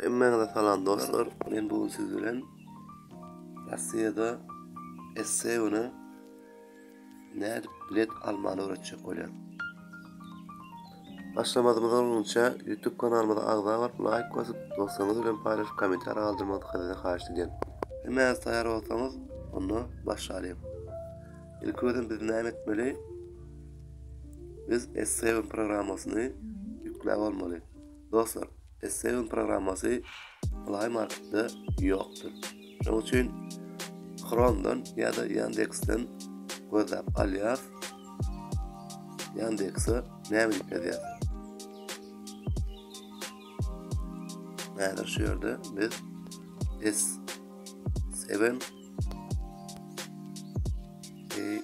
Hemmäňize salam dostlar. Men bu gün siz bilen Russiýada esse güne nädip bilet almany öwretjek bolýan. Başlamazymyz olgunça YouTube kanalymyza agza bolup, laýk basyp, dostlaryňyz bilen paýlaşyp, kommentariýa galdyrmagy sizden haýyş edýän. Hemmäňiz taýýar bolsaňyz, onda başlalyň. Ilki bilen biz näme etmeli? Biz S7 programmasyny ýükläp almaly. Dostlar, Essegon programmasy Play Marketde ýokdur. Şonuň üçin Chromedan ýa-da Yandex-den gözläp alýas. Yandex-e näme diýip ýazýas? Häzir şu ýerde biz S7 E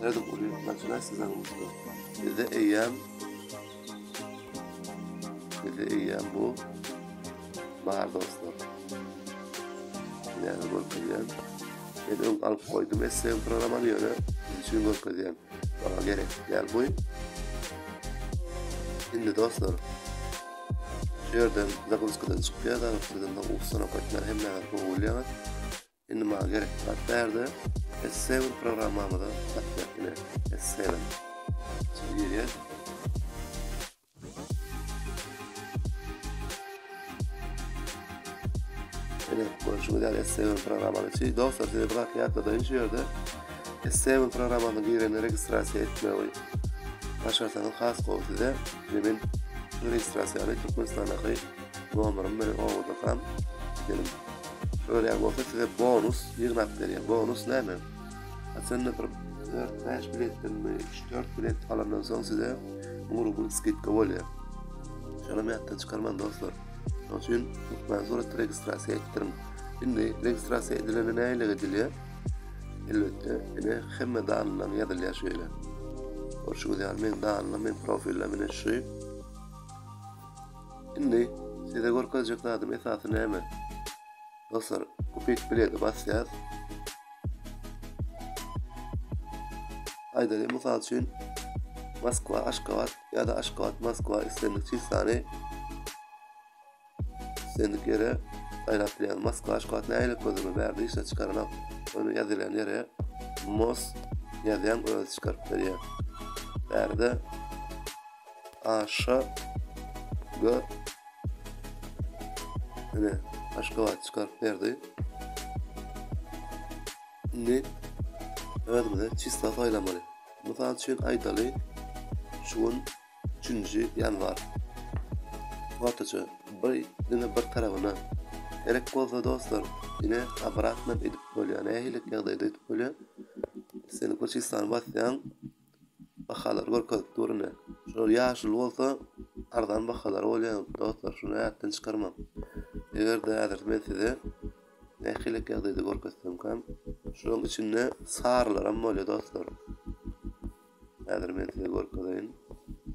Nädip uly ýetmezler size usta. Bize eýýäm Bize eýýäm bu bar dostlar. Näme görkezýän? Men öň alyp goýdum SVM programmany ýöne üçin görkezýän. Maňa gerek däl bu. Indi dostlar şu ýerden zaguskadan çykýar da, sizin bu usta nokatlar hemme ýerde bolýar. Indi maňa gerekli zat bärde S7 programmamyza zat berkine S7. Şimdi girýär. Ene, görüşü güzel S7 programmamyza çiz. Dostlar, size bir zat ýatla da inşi yerde. S7 programmamıza girene registrasiya etme oy. Başarsanız has gol size. Şimdi ben registrasiyonu Türkmenistan'a kayıp. Nomerim meni owadakam gelim. Şöyle bolsa size bonus ýygnap berýän. Bonus näme? Aslynda bir 4-5 biletden mi, 3-4 bilet alandan soň size 1000 rubl skidka bolýar. Şony mätden çykarman dostlar. Şonuň üçin lütfen suratda registrasiýa etdiriň. Indi registrasiýa edilende näle edilýär? Elbetde, ine hemme danylaryň ýazylýar şeýle. Görşüňiz ýaly meň danylarym, meň profilim ine şu. Indi size görkezjek zadym esasy näme? Dostlar, kupit bileti basýas. Aýdaly, mysal üçin, Moskwa, Aşgabat ýa-da Aşgabat, Moskwa islendik çislany islendik ýere saýlap bilýän. Moskwa, Aşgabat näýlik gözüme bärde işe çykaranok. Ony ýazylýan ýere Mos ýazýan öz çykaryp berýär. Bärde Aşa we Mine, Aşgabat çykaryp berdi. Indi özümize çista saýlamaly. Mysal üçin aýdaly, şu gün 3-nji ýanwar. Ortaça bir diňe bir tarapyna gerek bolsa dostlar, ine obratno edip bolýar. Nähili ýagdaýda edip bolýar? Sen bir çistany basýaň. Bahalary görkezip dur ine. Şular ýaşuly bolsa arzan bahalar bolýar dostlar şuny ýatdan çykarmaň. Egerde häzir men size nähili ek ýagdaýda görkezsemkäm şulaň içinde sarylaram bolýar dostlar. Häzir men size görkezeýin.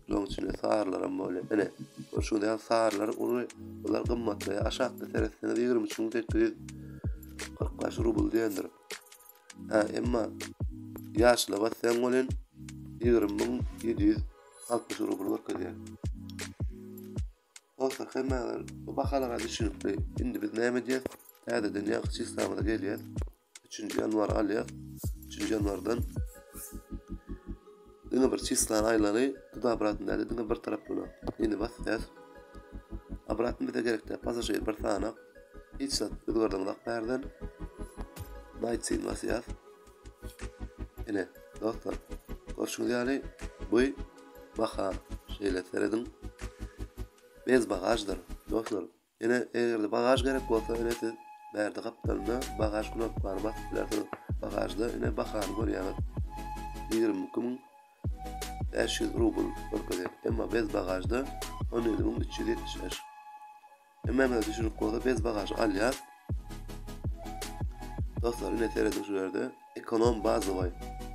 Şulaň içinde sarylaram bolýar. Ine. Görşüňiz ýaly sarylar uly bular gymmatlaýar. Aşakda seretseňiz 23845 rubl diýendir. Hä, emma ýaşlyga sen welin ýigrimi müň ýedi ýüz altmyş rubl görkezýär. Bolsa hemmäňiz bu bahalara düşünipli. Indi biz näme edýäs? Täzeden ýaňky çislamyza gelýäs. Üçünji ýanwary alýas. Üçünji ýanwardan diňe bir çislany aýlaly, tuda obratny däl-de diňe bir tarap böler. Indi basýas. Obratny bize gerek däl, pasažir bir sanak. Hiç zat özgerdiňzak bärden. Maýtsin wasýat. Ine, dostlar, görşüňiz ýaly bu baha şeýle serediň. Bez bagaždyr, dostlar. Ine, eger-de bagaž gerek bolsa, ine siz bärde gapdalynda bagaž knopkany basyp bilersiňiz. Bagažda ine bahany görýäňiz. 22500 rubl görkezýär. Emma bez bagažda 17375. Emmeme düşürip bolsa bez bagažy alýas. Dostlar ine serediň şu ýerde ekonom bazowy.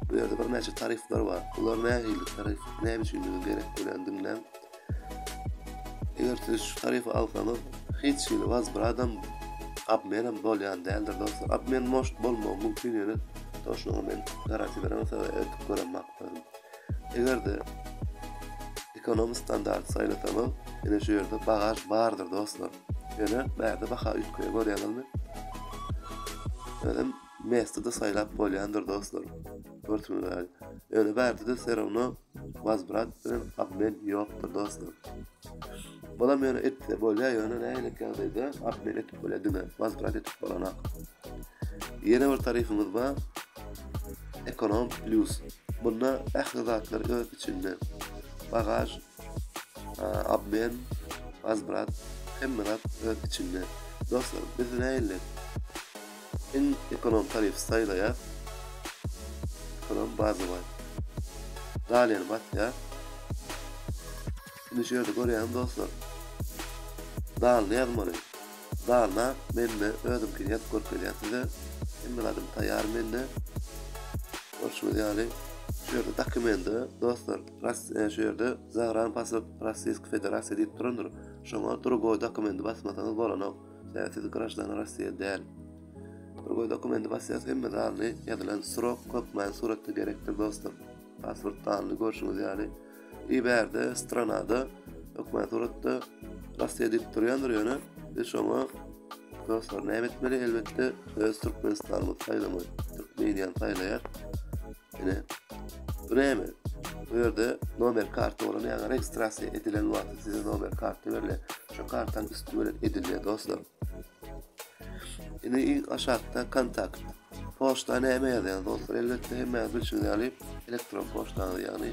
Bu ýerde birnäçe tarifler bar. Bular nähili tarif, näme üçinligi gerek bolýan diňläň. Eger siz şu tarify alsaňyz, hiç hili wazbradam abmenem bolýan däldir dostlar. Abmen moş bolmagy mümkin ýöne toşlugy men garati beremok, size edip göremok. Eger-de ekonomi standart saýlasaňyz, ine şu ýerde bagaž bardyr dostlar. Ýöne bärde baha üýtgeýär görýäňizmi? Özem mesde-de saýlap bolýandyr dostlar. Görtümiz Ýöne bärde-de serowno wazbrat bilen obmen ýokdur dostlar. Bolam ýöne etse bolýa ýöne nähili ýagdaýda apmel etip bolýa diňe wasprat etip bolanak. Ýene bir tarifimiz bar. Ekonom plus. Bunda ähli zatlar öz içinde. Bagaj, abmen, wasprat, hemme zat öz içinde. Dostlar, biz nähili Iň ekonom tarifçi saýlaýar. Ekonom Bazybaý. Dalýany basýar. Indi şu ýerde görýäňiz dostlar. Dalyny ýazmaly. Dalyna mende özümkini ýazyp görkezýän size. Hemme zadym taýýar mende. Görşüňiz ýaly şu ýerde dokumende dostlar Russiýa şu ýerde Zagrambasov Rossiýski Federasiýa diýip durandyr. Şoňa drugoý dokumendi basmasaňyz bolanok. Sebäpsiz graždana Rossiýa däl. Bir goý dokumenti basýas hemme zanly ýazylan srok hökmän suratda gerekdir dostlar. Pasport zanly görşüňiz ýaly. I bärde stranada hökmän suratda Rossiýa diýip durýandyr ýöne biz şoňa dostlar näme etmeli elbetde öz Türkmenistanymyzy saýlamaly. Türkmeniýany saýlaýar. Ine, Breme. Bu ýerde nomer karty bolan ýa-da registrasiýa edilen wagty size nomer karty berle. Şu kartaň üstü bilen edilýär dostlar. Ine iň aşakda kontakt. Poçta näme ýazýar dostlar? Elbetde hemmäňiz bilşiňiz ýaly elektron poçtaňyz, ýagny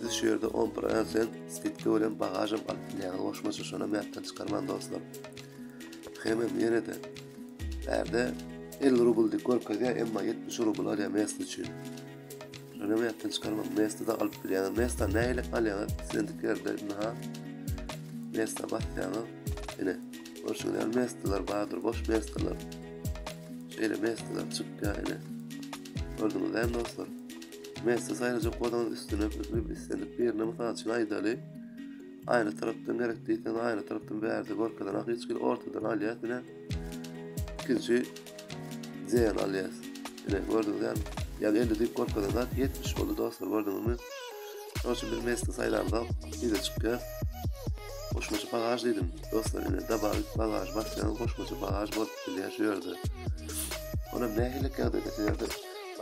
Siz şu ýerde on prosent skidka bilen bagažam alyp bilýäňiz goşmaça şonam ýatdan çykarmaň dostlar. Hemem ýene-de bärde 50 rubl diýip görkezýär, emma 70 rubl alýar mest üçin. Şonam ýatdan çykarmaň mesti-de alyp bilýäňiz. Mesta nähili alýaňyz? Islendik ýerde ynha mesta basýaňyz. Ine, görşüňiz ýaly mestalar bardyr, boş mestalar. Şeýle mestalar çykýar ine. Gördüňizmi dostlar? Mesde saýlajak bolsaňyz üstüne pikirip islendik birine mysal üçin aýdaly aýry tarapdan gerek diýseňiz aýry tarapdan bärde görkezen ak hiç kim ortadan alýas ine ikinji zeýan alýas ine gördüňiz ýa ýa elli diýip görkezen zat ýetmiş boldy dostlar gördüňizmi şonuň üçin biz mesde saýlanda bize çykýar goşmaça bagaj diýdim dostlar ine dabar bagaj basýan goşmaça bagaj bolup bilýär şu ýerde Ona nähili kâdede seyirde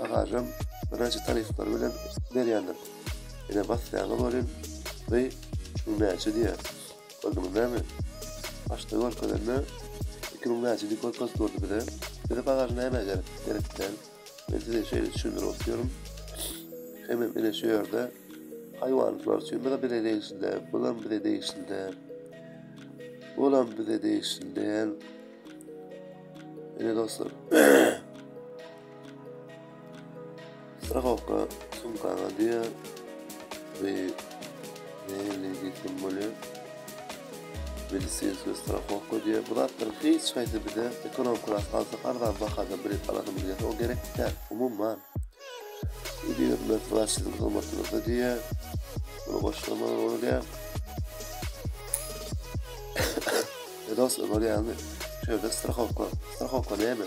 Agajam birinji taryflary bilen berýändir. Ine basýaňyz welin dy şu näçe diýýär. Gördüňiz näme? Başda görkezende iki müň näçe diýip görkezip durdy bize. Bize bagaj nämä gerek? Gerek däl. Men size şeýle düşündirip oturýaryn. Hemem ine şu ýerde haýwanlyklar üçin bize bile degişli däl. Bulam bize degişli däl. Bulam bize degişli däl. Ine dostlar. Strahowka sumkaňa diýer. Bu nähili getirim bolýar? Medisinskiý strahowka diýer. Bu zatlaryň hiç haýsy bize ekonom klas alsak arzan bahada bilet alasymyz gelýär. O gerek däl. Umuman. Bu diýer Mert wraç siziň hyzmatyňyzda diýer. Muny goşdurmagyň ony däl. Dostlar görýäňizmi? Şu ýerde strahowka. Strahowka näme?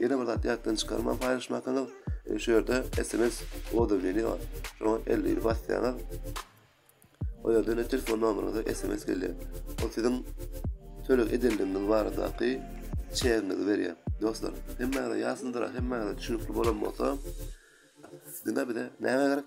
Ýene bir zat ýatdan çykarman paýlaşmakyňyz, şu ýerde sms odurbini bar. Şoňa elli basýaňyz. O ýerden telefon nomeryňyza sms gelýär. Ol siziň töleg edenligiňiz baradaky çegiňizi berýär. Dostlar, hemmäňize ýasyndyra, hemmäňize düşünikli bolan bolsa, diňe bize näme gerek?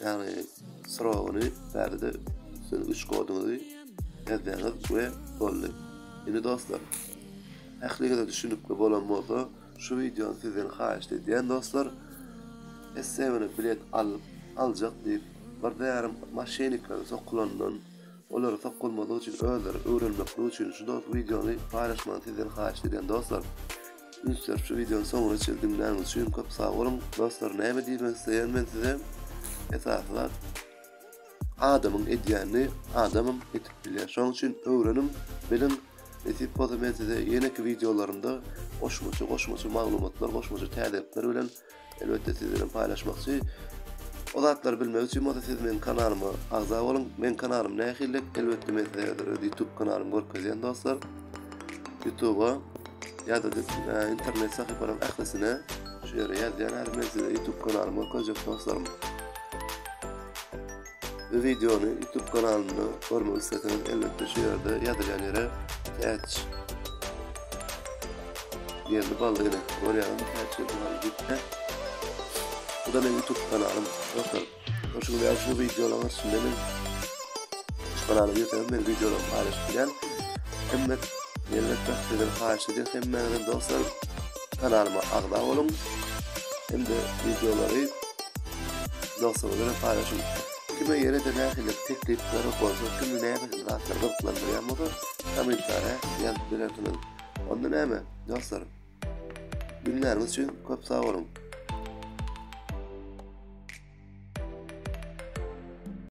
Ýagny soragyny bärde siz üç koduňyzy ýazýaňyz we boldy. Indi dostlar ähliňize düşünikli bolan bolsa şu wideony sizden haýyşt edýän dostlar essemini bilet alyp aljak diýip bir zärim maşenniklere sokulandan olary sokulmazlyk üçin özleri öwrenmeklik üçin şu dost wideony paýlaşmagyny sizden haýyşt edýän dostlar. Ünsler şu videony soňuna çenli diňläniň üçin köp sag boluň. Dostlar näme diýmek isleýän men size? Esasy zat adamyň edýänini adamym edip bilýär. Şonuň üçin öwreniň, biliň. Nesip bolsa men size ýeneki videolarymda goşmaça goşmaça maglumatlar, goşmaça täzelikler bilen Elbetde siz bilen paýlaşmakçy. O zatlary bilmek üçin bolsa siz meň kanalyma agza boluň. Meň kanalym nähili? Elbetde men size häzir öz YouTube kanalymy görkezýän dostlar. YouTube-a ýa-da internet sahypalaryň ählisine şu ýere ýazýan häzir men size YouTube kanalymy görkezjek dostlarym. Bu wideony YouTube kanalynda görmek isleseňiz, elbetde şu ýerde ýazylýan ýere täç ýerli bally ýene görýäňiz, täç ýerli bally gitme. Bu da meniň YouTube kanalym. Dostlar, hoşuňyz ýa şu wideolaryň içinde men şu kanala ýeteňiz, men wideolary paýlaşyp bilýän. Hemme elbetde sizden haýyş edýän hemmäňizden dostlar. Kanalyma agza boluň hem-de wideolary dostlaryňyz bilen paýlaşyň. Kime ýene-de nähili teklipleri bolsa, kimi näme zatlar gyzyklandyrýan bolsa, kommentariýa ýazyp bilersiňiz. Onda näme, dostlar? Günleriňiz üçin köp sag boluň.